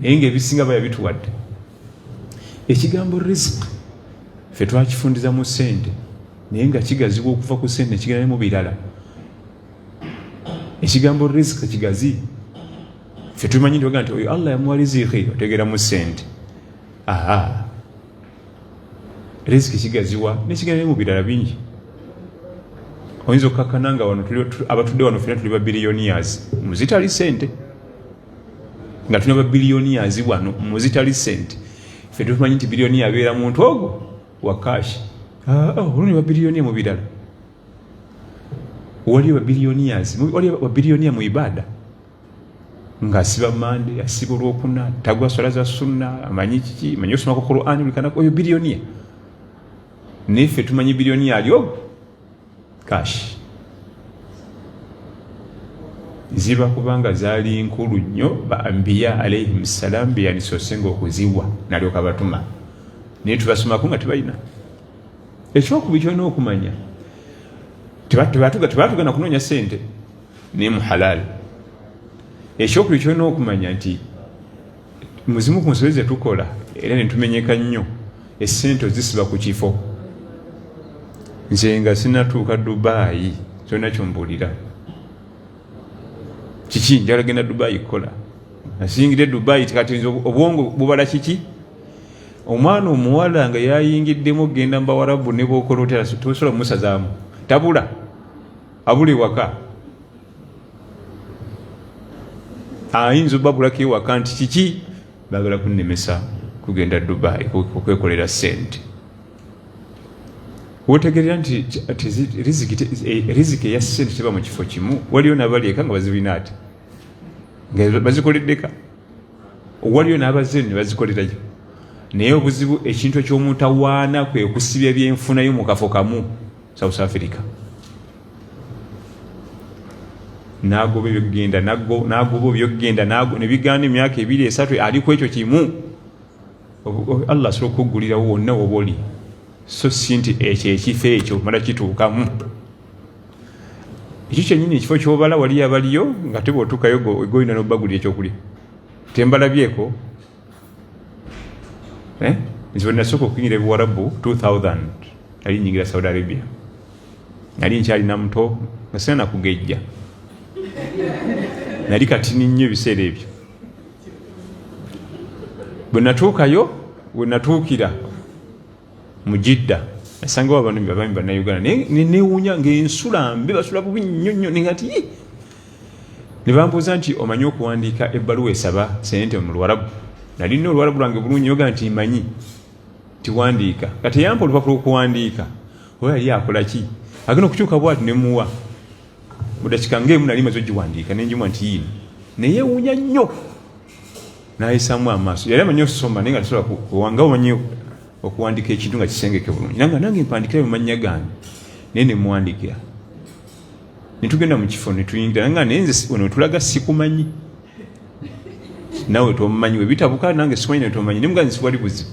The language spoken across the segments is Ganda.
naye ngaebisinga baya bituwadde ekigambo risk fe twakifundiza mu sente naye nga kigazibwa okuva ku sente nekigenda mu birala ekigambo risk kigazi fe tumanyi nti nti oyo allah yamuwa riziki otegera mu sente aa riziki kigaziwa nekigenda ne mu birala bingi oyinza okukakkana nga wano abatudde wano fena tuli babiliyonias muzitali sente nga tuna babilioniyazi wano muzitali sente fe tumanyi nti bilioniya abeera muntu ogwo wakashi ah, oh, oluni babilioniya mubirala waliyo babilioniyazi waliyo babilioniya mu ibada nga asiba mande asiba olwokuna tagwa swala za sunna amanyi kiki manyi osomako qurani oyo bilioniya naye fe tumanyi bilioniya ali ogwo Kash. Ziba kubanga zaali nkulu nnyo ba ambiya alaihim salam beyandisoosenga okuziwa nalyoka batuma naye tubasomako nga tebalina ekyokubiri kyolina okumanya tebatugana kunoonya sente naye muhalaali ekyokubiri kyolina okumanya nti mu zimu ku nsobi ze tukola era ne tumenyeka nnyo essente ozisiba ku kifo nze nga sinatuuka dubaayi kyona kyombuulira kiki njala genda dubaayi kukola nasingidde dubaayi tikatinza obwongo bubala kiki omwana omuwala nga yayingiddemu okugenda mu bawarabu ne bwokola otera tosobola mumusazaamu tabula abula ewaka ayinza obabulako ewaka nti kiki bagala kunnemesa kugenda dubai okwekolera sente wotegerera nti riziki eya sente teba mu kifo kimu waliyo nabalieka nga bazirina ati nga bazikoleddeka waliyo nabaze ne bazikolerayo naye obuzibu ekintu ekyomutawaana kwekusibya byenfunayo mu kafo kamu south africa nagoba ebyokugenda nagoba ebyokugenda nebigaana emyaka ebiri esatu ali ku ekyo kimu allah asobola okukuggulirawo wonna woba oli so si nti ekyo ekifo ekyo mala kituukamu ekyo kyenyini ekifo kyobala waliyo abaliyo nga teba otuukayo egoyina nobagulira ekyokulya tembalabyeko eh? nze wenasooka okunyira ebiwarabu 2000 nali nyingira saudi arabia nali nkyalina muto nga sina nakugejja nali katini nnyo ebiseera ebyo bwe natuukayo we natuukira mu jidda nasangawo abanumi babami bannayuganda naye newuunya ngaensula mbi basula bubi nnyo nnyo ninga nti ye ne bambuuza nti omanyi okuwandiika ebbaluwa esaba sente mu luwarabu nali nna oluwarabu lwange bulungi yoga nti manyi tiwandiika nga teyampa olupapula okuwandiika oba yali akola ki agenda okukyuka bwati ne muwa mudakika ngaemu nali maze ogiwandiika nenjumwa nti yiino neyewuunya nnyo nayisamu amaaso yali amanyi okusoma naye nga tasobola kuwanga omanyi okuwandika ekintu nga kisengeke bulungi nanga nange mpandikira mumannya gange naye nemuwandikira netugenda mu kifo netuyingira nga naye nze ono wetulaga sikumanyi nawe tomumanyi webitabuka nange sikumanyi nawe tomumanyi naye muganzi siwali buzibu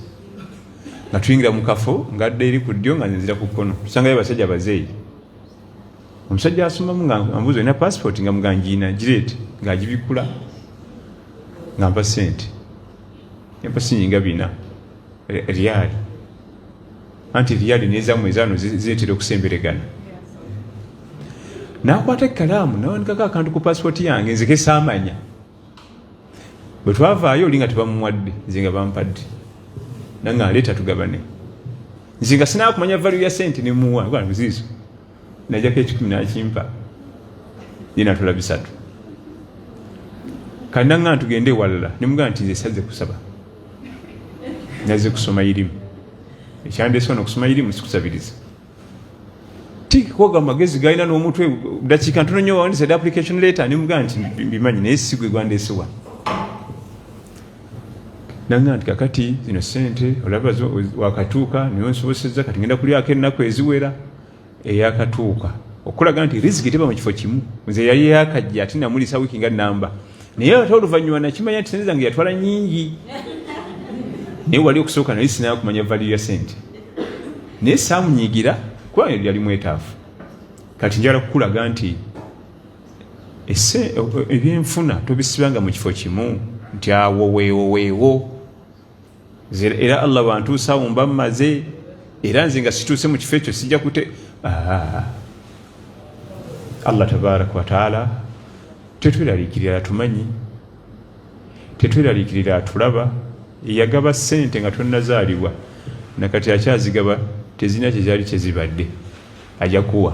nga tuyingira mu kafo ngadde eri ku ddyo nga nzira ku kkono tusangayo abasajja bazeeyi omusajja asomamu nga ambuuza olina passport nga muga ngiina gireete ng'agibikkula nga mpa sente empa sinyi nga bina riyaali anti riyaali nezamu ezaano ziretera okusemberegana nakwata ekkalaamu nawandikako akantu ku passport yange nzeke saamanya bwe twavaayo oli nga tebamuwadde nze nga bampadde nange aleeta tugabane nze nga sinakumanya value ya sente nemuwa ziizo najako ekikumi nakimpa yenatula bisatu kananga ntugende ewalala nemugaa nti nze saze kusaba naze kusoma irimu ekyandese ono kusoma irimu sikusabiriza tikoga magezi galina n'omutwe dakiika ntono nyo wawandisa application letter nemugaa nti mbimanyi naye sigwe gwandesewa nanga nti kakati zino sente olaba wakatuuka niwe nsoboseza kati ngenda kulyako ennaku eziwera eyakatuuka okulaga nti riziki teba mu kifo kimu nze yali yakajja ati namulisa wiiki nga namba naye ate oluvannyuma nakimanya nti sente zange yatwala nyingi naye wali okusooka naye sinaa kumanya valiyo ya sente naye saamunyigira kuba yali mwetaafu kati njala kukulaga nti ese ebyenfuna tobisibanga mu kifo kimu nti awo weewo weewo era allah wantuusaawo mba mmaze era nze nga situuse mu kifo ekyo sijja kute ah. allah tabaraka wataala tetweraliikirira atumanyi tetweraliikirira atulaba eyagaba ssente nga tonnazaalibwa nakati akyazigaba tezirina kyezaali kyezibadde ajakuwa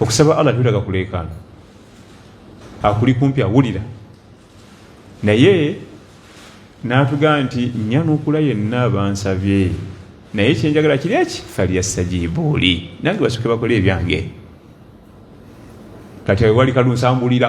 okusaba allah tekulaga kuleekaana akuli kumpi awulira naye natugaa nti nyanukula yenna abansabye naye kyenjagala kiri eki falyastajibuuli nange basuke bakole ebyange kati wewali kalunsambulira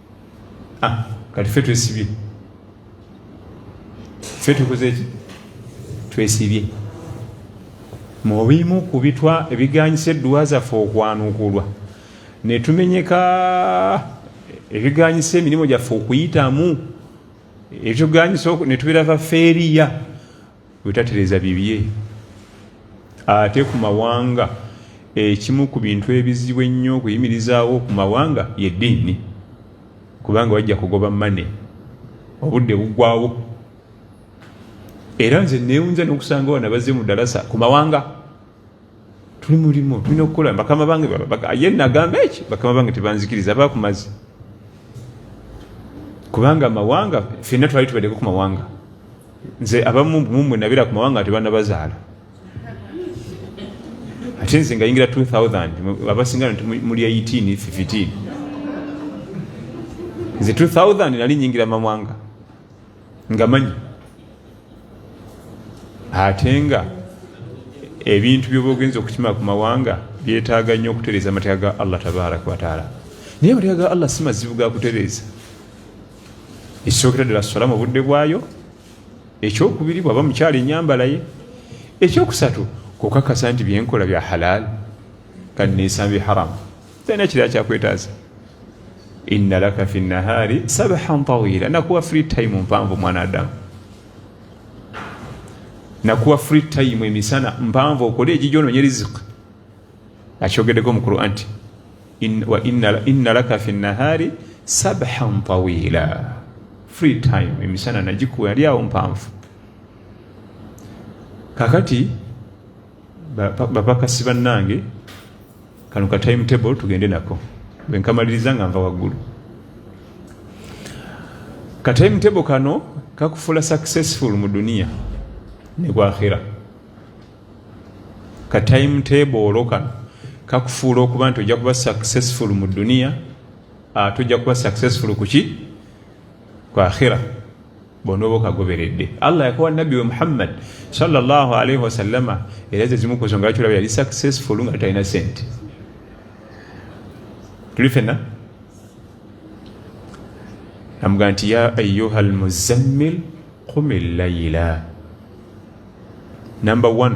Ah, kati ffe twesibye ffe tukoze ki twesibye mu bimu ku bitwa ebiganyisa edduwa zaffe okwanukulwa ne tumenyeka ebiganyisa emirimu gyaffe okuyitamu ebyoganyisa ne tubeera bafeeriya Bwetatereza bibye ate ku mawanga ekimu ku bintu ebizibu ennyo okuyimirizaawo ku mawanga ye ddiini kubanga wajja kugoba mane obudde buggwawo era nze neewunza n'okusanga wano bazze mu dalasa ku mawanga tuli mulimu tulina okukola bakama bange ye nagamba eki bakama bange tebanzikiriza bakumazi kubanga amawanga fenna twali tubadeko ku mawanga nze abamu mumwe nabeera ku mawanga tebanabazaala ate nze ngayingira 2000 abasinga muli 18 15 nze 2000 nali nyingira mawanga nga manyi ate nga ebintu byoba ogenza okukima ku mawanga byetaaga nnyo okutereeza amateeka ga allah tabaraka wataala naye amateeka ga allah si mazibu ga kutereeza ekisookera ddala sola mu budde bwayo ekyokubiri bwaba mukyalo enyambalaye ekyokusatu kukakasa nti byenkola bya halaali kandi nesamba haramu talina kirala kyakwetaaza inna laka fi nahaari sabahan tawila nakuwa free time mpanvu mwana adamu nakuwa free time emisana mpanvu okole egijononye rizik akyogedeko mu quran ti inna laka fi nahaari sabahan tawila free time emisana nagikuwa yali awo mpanvu kakati bapakasi bannange kano ka time table tugende nako bwenkamaliriza nga nva waggulu ka time table kano kakufula successful mu duniya ne bwakhira ka time table olo kano kakufuula okuba nti ojja kuba successful mu duniya ate ojja kuba successful kuki kwakhira bw'onooba okagoberedde allah yakowa nabbi we muhammad salllah alaihi wasallama era ze zimu ku nsonga lwaki olaba yali successful nga talina sente tuli fenna namugamba nti ya ayuha almuzammil qumi llaila number one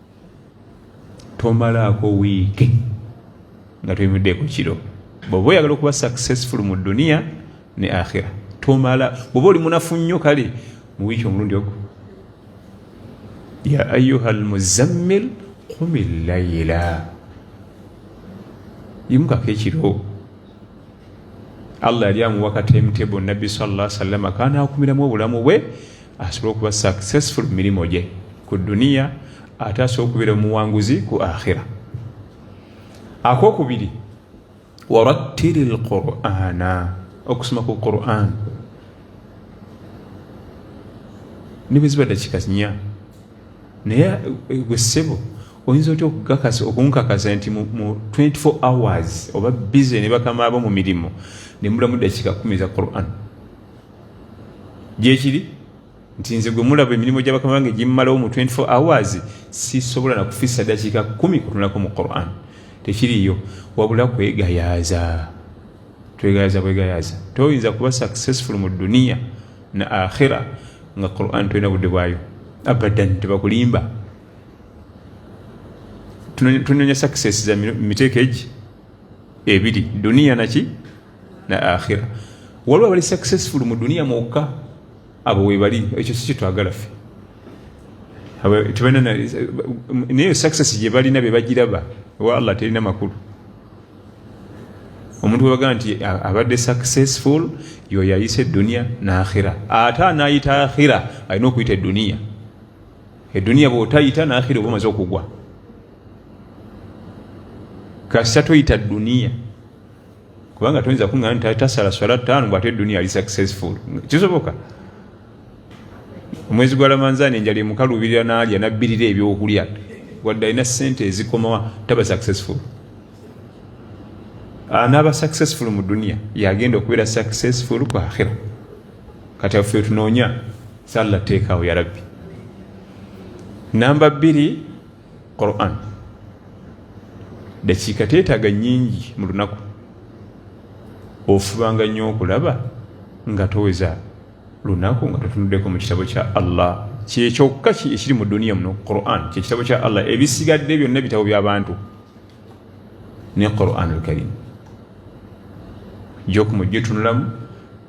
tomalaako wiiki nga toyimuddeeko kiro bwoba oyagala okuba successful mu duniya ne akhira tomala bwoba oli munafu nnyo kale mu wiiki omulundi ogwo ya ayuha almuzammil kumi layila yimukako ekiro allah yali amuwa ka timetable nabbi salla salama kanakumiramu obulamu bwe asobole okuba successful mu mirimu gye ku duniya ate asobole okubeera omuwanguzi ku akhira akokubiri warattiri lqurana okusoma ku quran ne bwe ziba dakika nya naye eh, gwe ssebo oyinza otya okukakasa okunkakasa nti mu 24 hours oba bize ne bakamaabo mu mirimu ne mulamu dakika kumi za quran gyekiri nti nze gwe mulaba emirimu gya bakama bange gimmalawo mu 24 hours sisobola nakufisa dakiika kumi kutunulako mu quran tekiriyo wabula kwegayaaza twegayaaza bwegayaaza toyinza kuba successful mu duniya na akhira nga quran tolina budde bwayo abadan tebakulimba tunonya success za miteeko egi ebiri duniya naki na akhira waliwo abali successful mu duniya mwokka abo webali ekyo si kyetwagala ffe naye success gye balina be bagiraba owa allah terina makulu omuntu webaga nti abadde successful yoyo ayisa eduniya naakhira ate anayita akhira alina okuyita eduniya eduniya bwotayita naakhira oba omaze okugwa kasita toyita duniya kubanga toyinza kuŋŋana nti tasala swala ttaano bw'ate edduniya ali successful kisoboka omwezi gwa lamanzaani enjala emukaluubirira n'alya nabbirira ebyokulya wadde alina ssente ezikomawa taba successful anaaba ah, successful mu duniya yagenda okubeera successful ku akhira kati affe tunoonya salla teekaawo yarabbi namba bbiri quran dakiika teetaaga nyingi mu lunaku ofubanga nnyo okulaba nga toweza lunaku nga totunuddeko mu kitabo kya allah kyekyokka ekiri mu duniya muno quran kyekitabo kya allah ebisigadde byonna bitabo byabantu ne quran alkarim gyokumujjo tunulamu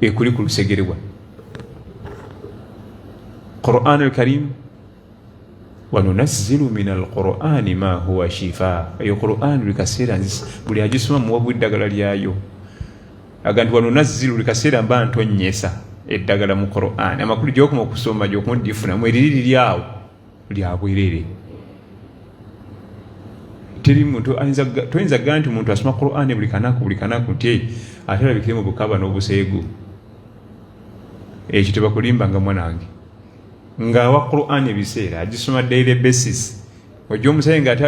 ekuli ku lusegere wa quran alkarim wanunazzilu min alqurani ma huwa shifa eyo quran buli kaseera buli agisoma muwa bweddagala lyayo aga nti wanunazzilu buli kaseera mba ntonyesa eddagala mu quran amakulu gyokuma okusoma gyokuma odifunamu eriri liri awo lya bwerere teri muntu toyinza kugaa nti omuntu asoma qurani buli kanaku buli kanaku nti ate alabikire mu bukaba n'obuseegu ekyo tebakulimbanga mwanange ngaawa qurani ebiseera agisoma daily basis ojja omusayi nga ate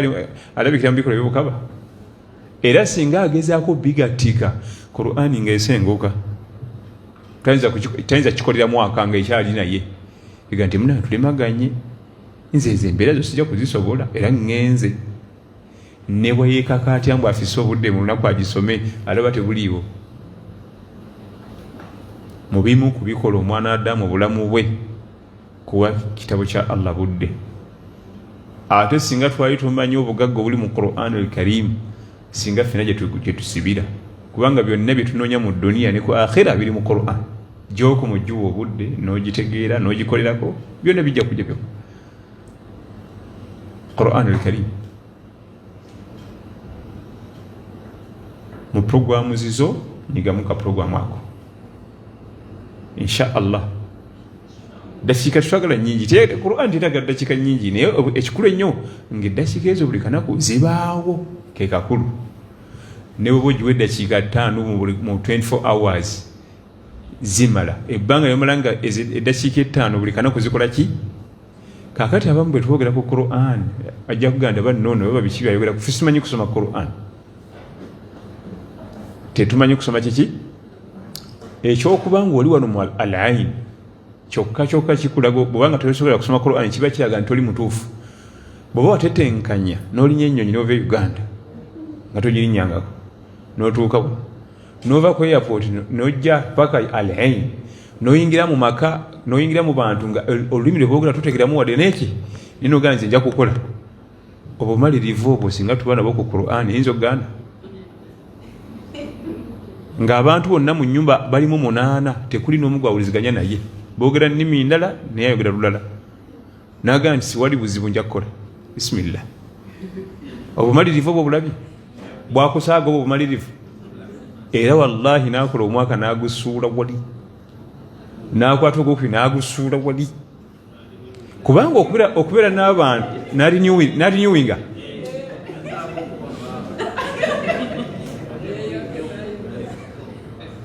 alabikira mu bikola byobukaba era singa agezaako bigattika qurani ngaesenguka tayinza kikolera mwaka nga ekyali naye ega nti muna tulemaganye nze ezo embeera zo sijja kuzisobola era ŋŋenze ne bwe yeekaka atya mbu afise obudde mu lunaku agisome alaba tebuliiwo mu bimu ku bikola omwana adamu obulamu bwe kuwa kitabo kya allah budde ate singa twali tumanyi obugagga obuli mu quran al karimu singa fena gye tusibira kubanga byonna bye tunoonya mu duniya ne ku akhira biri mu quran Gy'oku mu giwa obudde n'ogitegeera n'ogikolerako byonna bijja kujja byo Quran al-Karim mu programu zizo nyigamu ka programu ako insha allah dakiika tetwagala nyingi te Quran tetagala dakiika nyingi naye ekikulu ennyo ng'eddakiika ezo buli kanaku zibaawo ke kakulu ne bweba ogiwa eddakiika ttaano mu 24 hours zimala ebbanga yomala nga eddakiika ettaano buli kanaku zikola ki kakati abamu bwe twogera ku quran ajja kuganda banoono baba biki byayogera kufe simanyi kusoma quran tetumanyi kusoma kiki ekyokuba nga oli wano mu al ain kyokka kyokka kikulaga bwobanga tosobola kusoma quran kiba kiraga nti oli mutuufu bweoba watetenkanya n'olinya ennyonyi n'ova e uganda nga togirinyangako n'otuuka nova ku airport nojja paka al ain noyingira mu maka noyingira mu bantu nga olulimi lwebogera tutegeramu wadde neki ninogana nze nja kukola obumalirivu obwo singa tuba nabo ku quran eyinza okugana ngaabantu bonna mu nyumba balimu munaana tekuli nomu gwawuliziganya naye bogera nimi ndala naye ayogera lulala nagamba nti siwali buzibu nja kukola bisimillah obumalirivu obwo bulabye bwakusaaga obwo obumalirivu era wallahi nakola omwaka nagusuula wali nakwata ogwokubi nagusuula wali kubanga okubeera n'abantu narinyuwinga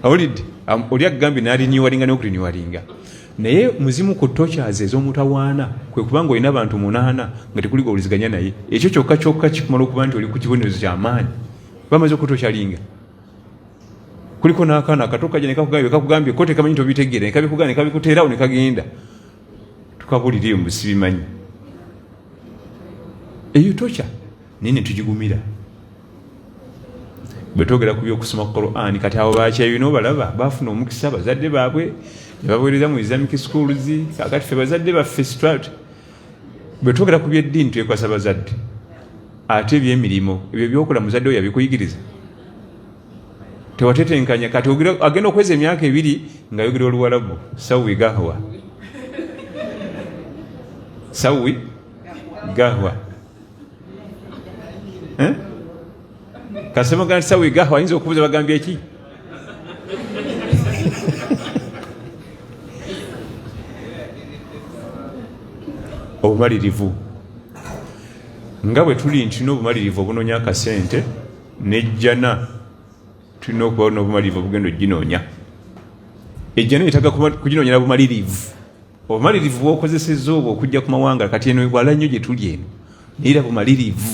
awulidde oli agambye narinyuwalinga nokurinyuwalinga Naye muzimu ku tochaze ez'omutawaana kwe kuba nga olina abantu munaana nga tekuli gowuliziganya naye ekyo kyokka kyokka kikumala okuba nti oli ku kibonerezo kyamaanyi bamaze okutokyalinga kuliko n'akaana akato kaja nekakugambye kakugambye ko tekamanyi nti obitegeera nekabikugaa nekabikuteerawo nekagenda tukabulira eyo musibimanyi eyo tokya naye netugigumira bwetogera ku byokusoma quran kati abo bakyayina obalaba bafuna omukisa bazadde baabwe nebawereza mu islamic schools kakati fe bazadde baffe strat bwetwogera ku byeddiini twekwasa bazadde ate ebyemirimu ebyo byokola muzadde oyo abikuyigiriza tewatetenkanya kati agenda okweza emyaka ebiri nga yogera oluwalabu sawi gahwa sawi gahwa eh? kasema gana sawa igaha wayinza okubuza bagambye ki obumalirivu nga bwe tuli nti tulina obumalirivu obunonya akasente nejjana tulina okuba nobumalirivu obugenda oginoonya ejjana yetaga kuginonyera bumalirivu obumalirivu bwokozesezza obwo okujja ku mawanga kati eno wala nnyo gye tuli eno naye bumalirivu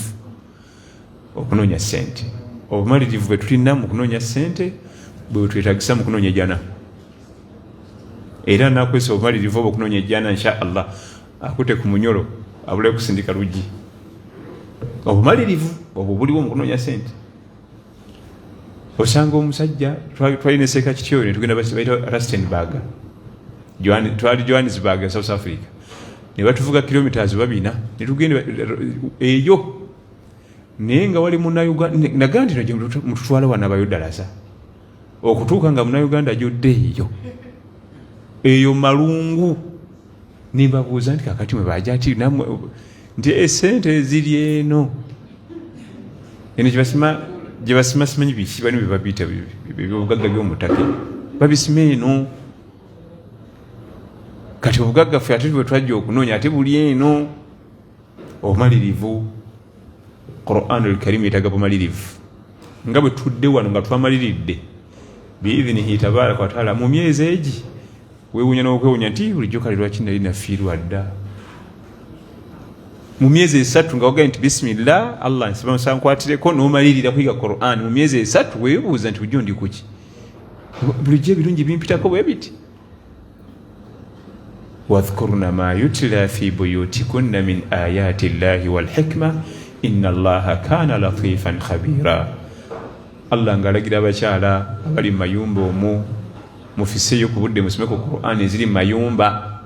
okunoonya ssente obumalirivu bwe tulina mu kunoonya ssente bwe bwetwetagisa mu kunoonya ejana era nakozesa obumalirivu obwo okunoonya ejana insha allah akute ku munyolo abulayo kusindika luggi obumalirivu obwo buliwo mu kunoonya ssente osanga omusajja twali neseeka kityoyo netugenda baita rustenburg twali johannesburg south africa nebatuvuga kilometres babina netugenda eyo naye nga wali munaga nti mututwala wanabayo dalasa okutuuka nga munauganda jodde eyo eyo malungu nimbabuuza nti kakati mwe bajati namwe nti esente eh, eziri eno eno gyebasima gyebasima simanyi biki bani bebabiyita byobugagga byomutaka babisima eno kati obugagga ffe ate bwe twajja okunoonya ate buli eno obumalirivu quran alkarimu yetaga bumalirivu nga bwe tudde wano nga twamaliridde biidhinihi tabaraka wataala mu myezi egi wewunya nokwewunya nti bulijjo kale lwaki nali nafiirwa dda mu myezi esatu nga wagaye nti bisimillah allah nsaba nsankwatireko nomalirira kuyiga quran mu myezi esatu webuuza nti bulijjo ndi kuki bulijjo ebirungi bimpitako bwe biti wadhkurna ma yutila fi buyutikunna min ayati llahi walhikma ina allaha kana latifan khabira allah ngaalagira abakyala abali mu mayumba omu mufiseeyo ku budde musome ku quran eziri mu mayumba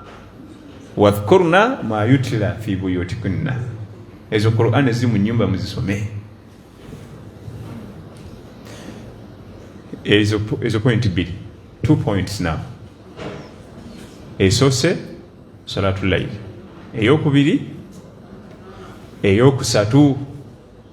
wadhkurna ma yutila fi buyutikunna ezo quran eziri mu nyumba muzisome ezo point bbiri two points now esoose salatu laili eyokubiri eyokusatu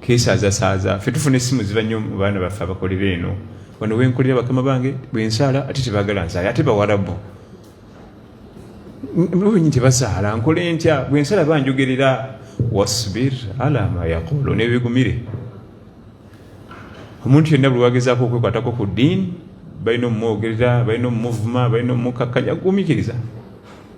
kesazasaaza fe tufuna essimu ziba nnyo mu baana baffe abakolera eno wano wenkolera bakama bange bwensaala ate tebagala nsaala ate bawarabu benyi tebasaala nkola entya bwensala banjogerera wasbir ala ma yaqulu nebigumire omuntu yenna buli wagezaako okwekwatako ku ddiini balina omumwogerera balina omumuvuma balina omumukakkanya gumikiriza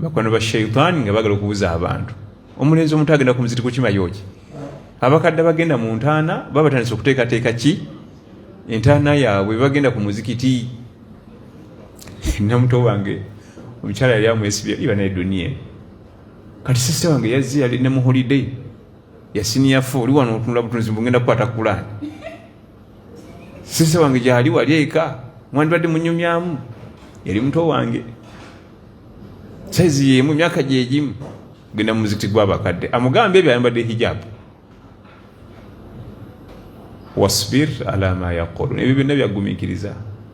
bakwano ba shaitani nga bagala okubuza abantu omulenzi omuntu agenda ku muziti kukima yoki abakadde bagenda mu ntaana baba batandise okuteekateeka ki entaana yaabwe bagenda ku muzikiti namuto wange omukyala yali amwesibya iba naye duniya kati sisita wange yazze yali ne mu holiday yasiniyafa oli wano otunula butunzi mbungenda kukwata kulaani sisi wange gyali wali eka mwandibadde munyumyamu yali muto wange saizi yemu emyaka gyegimu genda mumuzikiti gwabakadde amugambe ebyo ayambadde hijabu wasbir ala ma yaqulun ebyo byonna byagumikiriza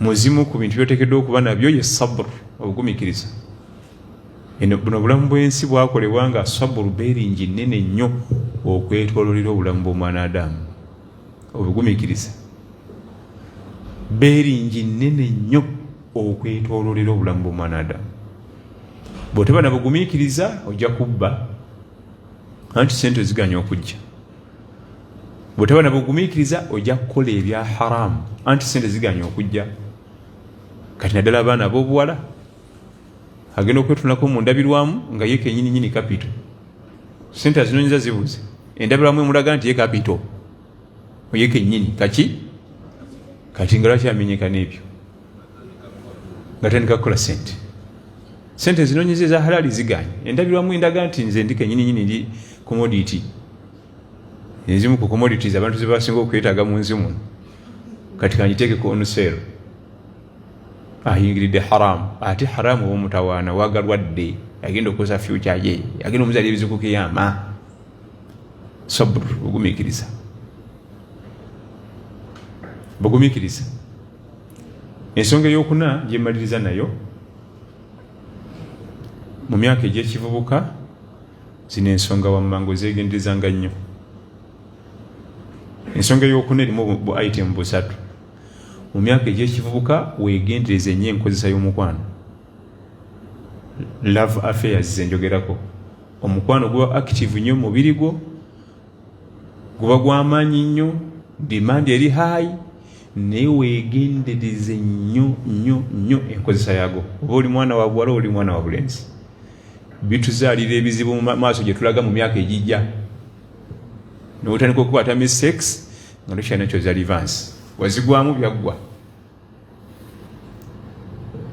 muzimu ku bintu byotekeddwa okuba nabyo ye sabr obugumikiriza buno obulamu bwensi bwakolebwa nga sabr beringi nene nnyo okwetololera obulamu bwomwana adamu obugumikiriza beringi nene nnyo okwetololera obulamu bwomwana adamu bwoteba nabugumikiriza ojja kubba anti sente ziganya okujja bwetaba na bugumiikiriza ojja kukola ebya haramu anti sente ziganya okujja kati naddala abaana abobuwala agenda okwetunako mu ndabirwamu nga ye kenyini nyini kapito sente azinonyeza zibuze endabirwamu emulaga nti ye kapito oye kenyini kaki kati nga lwaki amenyeka n'ebyo nga tandika kukola sente sente zinonyeza eza halali ziganye endabirwamu endaga nti nze ndi kenyini nyini ndi commodity ezimu ku commodities abantu zebasinga okwetaaga mu nsi muno kati kangiteeke ku onuseero ayingiridde haramu ate haramu omutawaana wagalwadde agenda okukosa fyuca ye agenda omuzali ebizikukiyama sabr ogumikiriza bagumikiriza Ensonga ey'okuna gye mmaliriza nayo mu myaka egy'ekivubuka zino ensonga wammanga ozeegenderezanga nnyo. Ensonga ey'okuna erimu bu itemu busatu. Mu myaka egy'ekivubuka weegendereze nnyo enkozesa y'omukwano, love affairs ze njogerako. Omukwano guba active nnyo mu mubiri gwo, guba gw'amaanyi nnyo, demand eri high. naye wegendereze nnyo nnyo nnyo enkozesa yago oba oli mwana wa buwala oli mwana wa bulenzi bituzaalira ebizibu mu maaso gye tulaga mu myaka egijja notandika okukwata mi sex nga tokyalina kyoza livansi wazigwamu byaggwa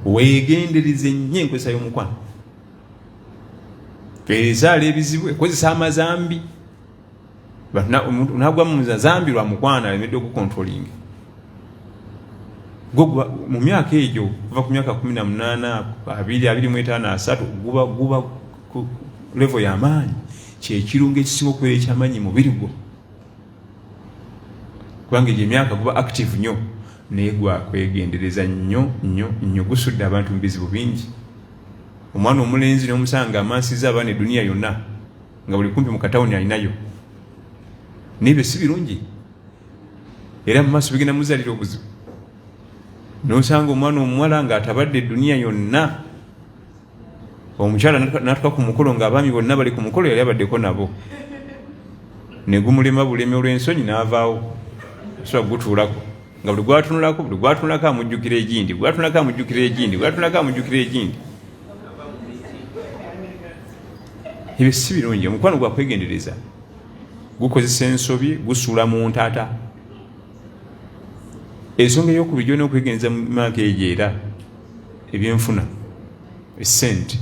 wegendereze nnyo enkozesa y'omukwano ezaala ebizibu ekozesa amazambi but na omuntu nagwa mu zambi lwa mukwana alemedde okukontrolinga gogwa mu myaka egyo kuva ku myaka kumi na munaana abiri abiri mu etaano asatu guba guba ku levo y'amaanyi kyekirungo ekisinga okubeera ekyamaanyi mubiri gwo kubanga egyo emyaka guba active nnyo naye gwakwegendereza nnyo nnyo nnyo gusudde abantu mu bizibu bingi omwana omulenzi n'omusanga amansiza abaana eduniya yonna nga buli kumpi mu katawuni alinayo nebyo si birungi era mu maaso bigenda muzalira obuzibu nosanga omwana omuwala nga atabadde eduniya yonna omukyala natuka ku mukolo nga abaami bonna bali ku mukolo yali abaddeko nabo negumulema bulemi olwensonyi naavaawo soa gutuulako nga buli gwatunulako buli gwatunulako amujjukira egindi gwatunulako amujjukira egindi gwatunulako amujjukira egindi ebyo si birungi omukwano gwa kwegendereza gukozesa ensobi gusuula mu ntata ensonga eyokubiri gyona okwegendereza mu maaka egyo era ebyenfuna esente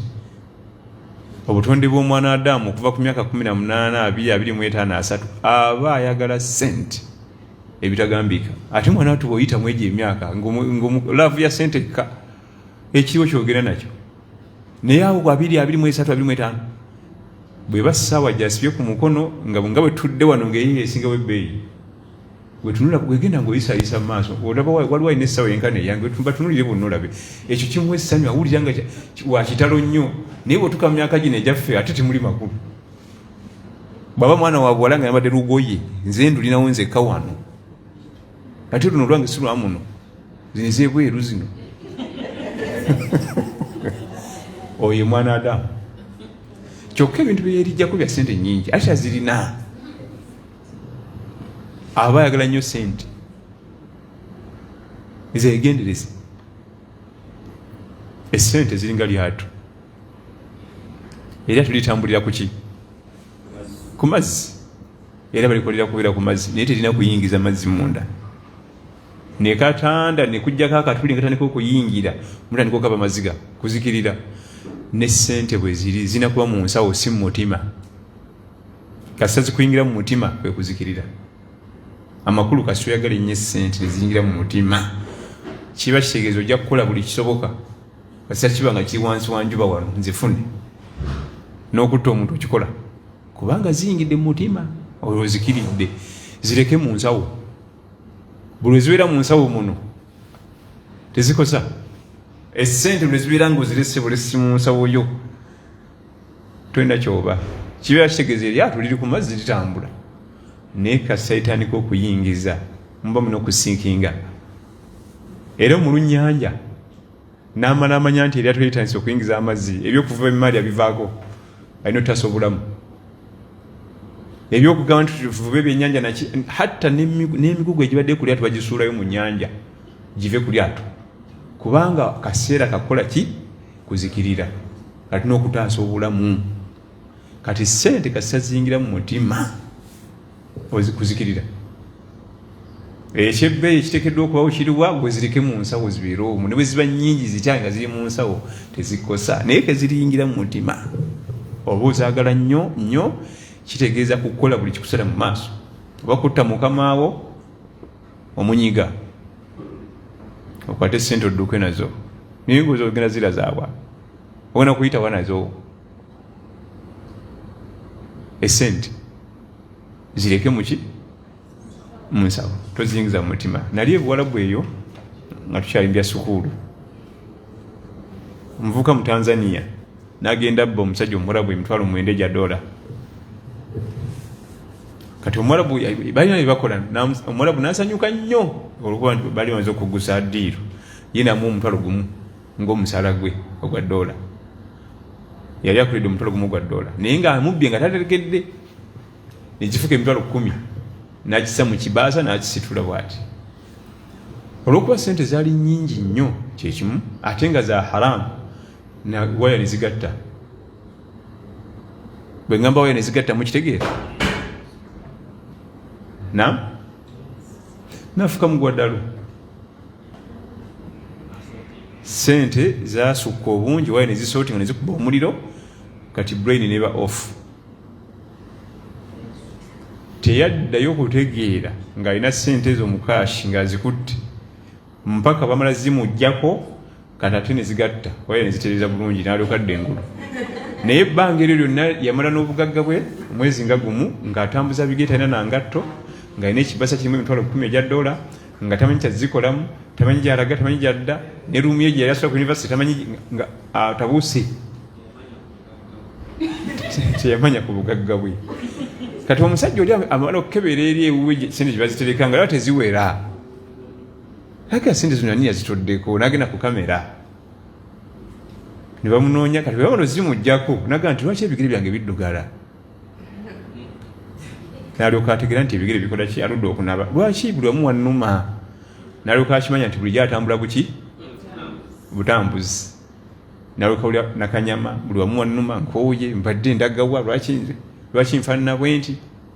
obutonde bw'omwana adamu okuva ku myaka 1823 aba ayagala sente ebitagambika ate mwana watu bwoyitamu egyo emyaka laavu ya sente ekka ekiriwo kyogera nakyo naye awo abiri abiri mu esatu abiri mu etaano bwe bassaawa gyasibye ku mukono nga nga bwe tudde wano ng'eyo esingawo ebbeeyi wetunula wegenda ngaoyisayisa mu maaso olaba waliwo alina essaawa yenkana eyange batunulire bonna olabe ekyo kimu essanyu awulira nga wakitalo nnyo naye bwetuka mu myaka gino egyaffe ate temuli makulu bwaba mwana wabuwala nga yambadde lugoye nze ndulinawo nzekka wano ate luno olwange si lwa muno zino ezebweru zino oyo mwana adamu kyokka ebintu byeyerijjako bya sente nyingi ate azirina aba ayagala nnyo sente ezegendereza esente ziringa lyato era tulitambulira kuki ku mazzi era balikolera kubeera ku mazzi naye terina kuyingiza mazzi munda nekatanda nekujjako akatuli nkatandika okuyingira mutandika okaba maziga kuzikirira ne sente bweziri zina kuba mu nsawo si mu mutima kasita zikuyingira mu mutima kwe kuzikirira amakulu kasita oyagala ennyo esente neziyingira mu mutima kiba kitegeeza ojja kukola buli kisoboka kasita kiba nga kiri wansi wanjuba wano nzifune n'okutta omuntu okikola kubanga ziyingidde mu mutima olwo zikiridde zireke mu nsawo buli ezibeera mu nsawo muno tezikosa esente lwezibeera nga ozirese bulesi mu nsawo yo tolina kyoba kibeera kitegeeza eryato liri ku mazzi litambula naye kasaitandika okuyingiza muba munokusinkinga era omulunyanja n'amala amanya nti eryato litandise okuyingiza amazzi ebyokuva emimaali abivaako alina otutaasa obulamu ebyokugamba nti tuvube ebyenyanja naki hatta n'emigugu egibadde ku lyato bagisuulayo mu nyanja give ku lyato kubanga kaseera kakukola ki kuzikirira kati n'okutaasa obulamu kati sente kasita ziyingira mu mutima ozikuzikirira ekyebbeeyi ekitekeddwa okubawo kiriwa gwezirike mu nsawo zibeere omu ne bwe ziba nnyingi zitya nga ziri mu nsawo tezikosa naye keziriyingira mu mutima oba ozaagala nnyo nnyo kitegeeza kukola buli kikusala mu maaso oba kutta mukamaawo omunyiga okwate sente odduke nazo naye ngaoza ogenda zirazaabwa ogenda kuyitawa nazo esente zireke muki munsawo toziyingiza mu mutima nali ebuwalabu eyo nga tukyalimbya sukuulu omuvuka mu tanzania nagenda bba omusajja omurabu emitwalo mwenda egya dola kati omurabu balina byebakola omurabu nasanyuka nnyo olwokuba nti bali banza okugusa diiru ye namu omutwalo gumu ng'omusaala gwe ogwa doola yali akulidde omutwalo gumu gwa doola naye nga amubbye nga taterekedde nekifuka emitwalo kumi nakisa mu kibaasa nakisitula bwati olwokuba sente zaali nyingi nnyo kyekimu ate nga za haramu waya nezigatta bwe ngamba waya nezigatta mukitegeera nam nafuka mugwa ddalu sente zasukka obungi waye nezisooti nga nezikuba omuliro kati brain neba off teyaddayo kutegeera ng'alina sente ezo mukashi ng'azikutte mpaka bamala zimujjako kati ate ne zigatta waya ne zitereeza bulungi n'alyoka adda engulu naye ebbanga eryo lyonna yamala n'obugagga bwe omwezi nga gumu ng'atambuza bigere talina na ngatto ng'alina ekibasa kirimu emitwalo kumi egya dola nga tamanyi kyazikolamu tamanyi gyalaga tamanyi gyadda ne ruumu ye gye yali asula ku univesity tamanyi nga atabuuse teyamanya ku bugagga bwe kati omusajja oli amala okukebera eri ewuwe sente gyebazitereka nga laba teziwera Haki asindi zino ani yazitoddeko nagenda ku kamera ne bamunoonya kati bwebabano zimujjako naga nti lwaki ebigere byange biddugala nalyoka ategera nti ebigere bikola ki aludde okunaba lwaki buli wamu wannuma nalyoka akimanya nti bulijjo atambula buki butambuzi nalyoka ulya nakanyama buli wamu wannuma nkooye mbadde ndagawa lwaki nze lwaki nfaanana bwenti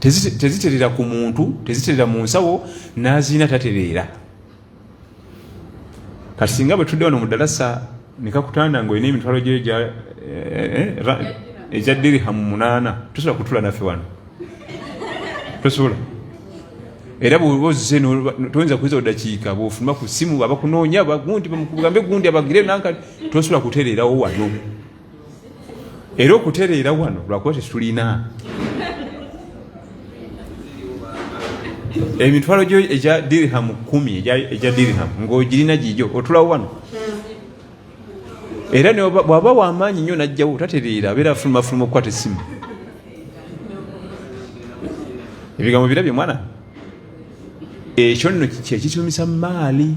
teziterera ku muntu teziterera mu nsawo nazirina tatereera kati singa bwe tudde wano mu dalasa nekakutanda nga olina emitwalo gyo egya eh, eh, eh, dirihamu munaana tosobola kutula naffe wano tosobola era bwoba ozze toyinza kuyinza odakiika bwofuluma ku simu abakunoonya bagundi bamukugambe gundi abagire nanka tosobola kutereerawo wano era okutereera wano lwakuba tetulina emitwalo gyo egya dirham kumi egya dirham ngaogirina gigyo otulawo wano era bwaba wamaanyi nnyo najjawo tatereera abeera afulumafuluma okukwata essimu ebigambo birabye mwana ekyo nno kyekitumisa maali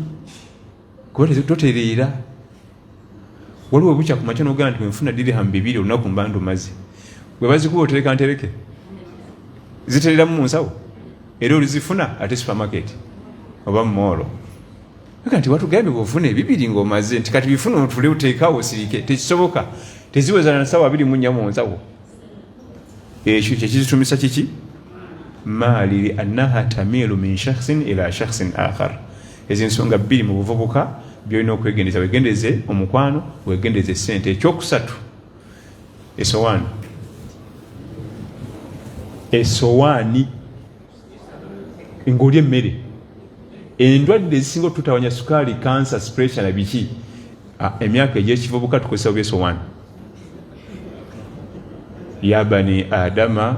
kuba totereera waliwo bukya ku makya nogamba nti wenfuna dirham bibiri olunaku mba ndumaze bwe bazikuba otereka ntereke zitereramu mu nsawo era olizifuna ate supermarket oba mumoolo aga nti watugambye bwofuna ebibiri ngaomaze nti kati bifuna otule oteekawo osirike tekisoboka teziwezana nsawo abiri mu nnya mu nsawo ekyo kyekizitumisa kiki maali liannaha tamiilu min shakhsin ila shakhsin akhar Ezo ensonga bbiri mu buvubuka byolina okwegendeza, wegendeze omukwano, wegendeze sente. Ekyokusatu, esowaani esowaani ngaoli emmere. Endwadde ezisinga otutawanya sukaali, kansa, sipuresha na biki, emyaka egyekivubuka tukozesa oba esowaani. Ya bani adama.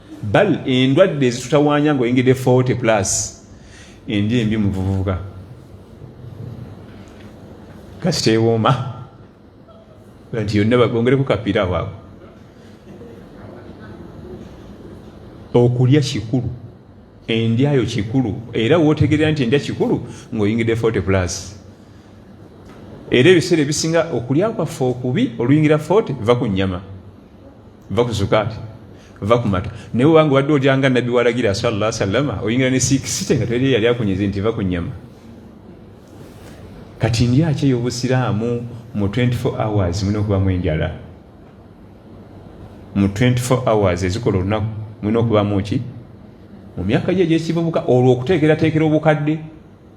bal endwadde ezitutawaanya nga oyingidde 40 plus endi embi muvuvuka kasita ewooma nti yonna bongereko kapiira waako okulya kikulu endyayo kikulu era wotegerera nti endya kikulu ngaoyingidde 40 plus era ebiseera ebisinga okulya kwaffe okubi oluyingira 40 va ku nyama va ku zukaati va ku mata naye obanga obadde olya nga nabbi walagira salla salama oyingira ne sikisite nga teri yali akunyezi nti va ku nyama kati ndyaki eyobusiraamu mu 24 hours mulina okubamu enjala mu 24 hours ezikola olunaku mulina okubamu ki mu myaka gye egyekivubuka olwo okuteekerateekera obukadde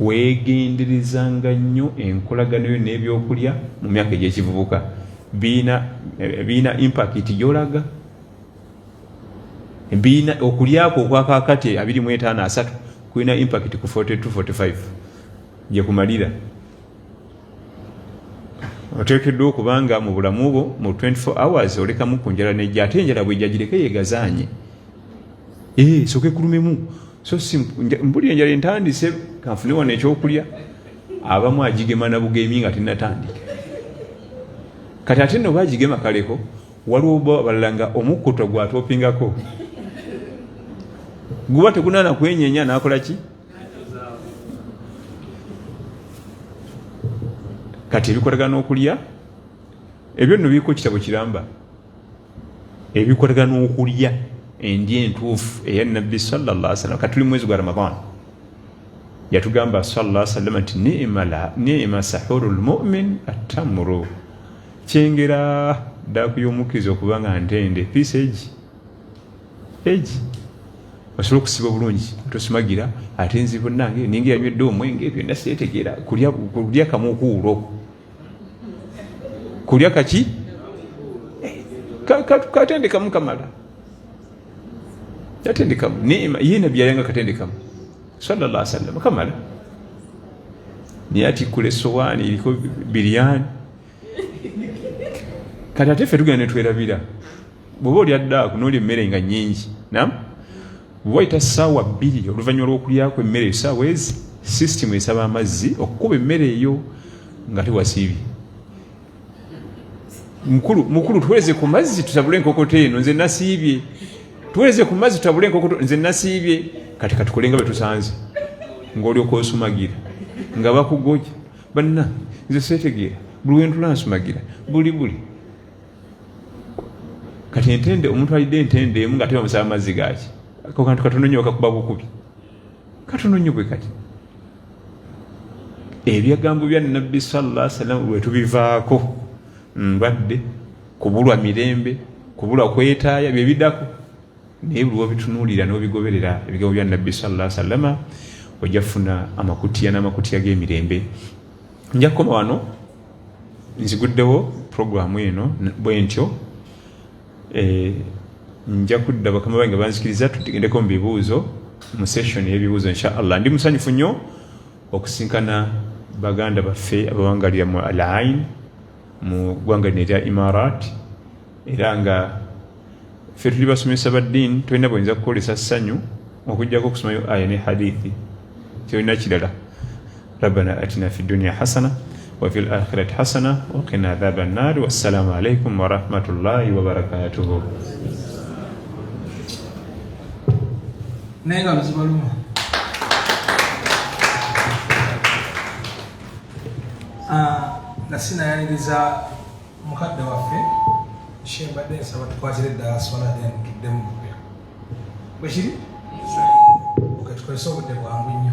weegenderezanga nnyo enkolagana yo n'ebyokulya mu myaka egy'ekivubuka biina biina impakiti gyolaga biina okulyako okwakakati abiri mu etaano asatu kulina impakiti ku 4245 gye kumalira oteekeddwa okuba nga mu bulamu bwo mu 24 hours olekamu ku njala nejja ate enjala bwejjagireke yegazaanye ee eh, soka ekulumemu so mbuli enjala entandise kanfune wano ekyokulya abamu agigema nabugemye nga tinatandika kati ate noba agigema kaleko waliwo balala nga omukkuto gwatopingako guba tegunana kwenyenya nakola ki kati ebikolagana okulya ebyo nno biriko kitabo kiramba ebikolebwa n'okulya endya entuufu eya nabbi salllah salam katuli mwezi gwa ramadan yatugamba salllah salama nti nima sahuru lmumin attamuru kyengera daaku y'omukkiriza okuba nga ntende piisa egi egi osobola okusiba obulungi tosumagira ate nzibunange ninga yanywedde omwenge byonna seetegeera kulya kamukuulo kulya kaki katendekamu kamala yatendekamu nima ye nabbi yayanga katendekamu salalla sallam kamala naye atikkula esowaani eriko biryani kati ate ffe tugenda netwerabira bwoba olya daaku nolya emmere nga nyingi nam Wayita ssaawa bbiri oluvannyuma lw'okulyako emmere eyo ssaawa ezi sisitimu esaba amazzi okukuba emmere eyo nga tewasiibye mukulu mukulu tuwereze ku mazzi tutabule enkokoto eno nze nasiibye tuwereze ku mazzi tutabule enkokoto nze nasiibye kati katukolenga betusanze ngaolyoka osumagira nga bakugoja banna nze setegeera buli wentula nsumagira buli buli kati entende omuntu alidde entende emu nga tebamusaba amazzi gaki ako kantu katono nyo kakuba bukubi katono nyo bwe kati ebyagambo bya nabbi salla salam wetubivaako mbadde kubulwa mirembe kubulwa kwetaaya byebidako naye buli wobitunuulira nobigoberera ebigambo bya nabbi salla salama ojja funa amakutiya n'amakutiya g'emirembe nja kukoma wano nziguddewo puroguramu eno bwe ntyo eh, nja kudda bakama bange banzikiriza tugendeko mu bibuuzo mu session y'ebibuuzo insha allah ndi musanyufu nnyo okusinkana baganda baffe abawangalira mu alain mu ggwanga lino erya imarat era nga ffe tuli basomesa ba ddiini tolina bweyinza kukolesa ssanyu okujjako okusomayo aya ne hadithi kyolina kirala rabbana atina fi dunia hasana wafi lakhirati hasana wakina adhaba nnaari wassalamu alaikum warahmatullahi wabarakatuhu naye nga luzibaluma ah, nga sinayaniriza mukadde waffe shembadde nsaba tukwatire eddala swala then tuddemu mupya bwekiri oketukozesa obudde bwangu nnyo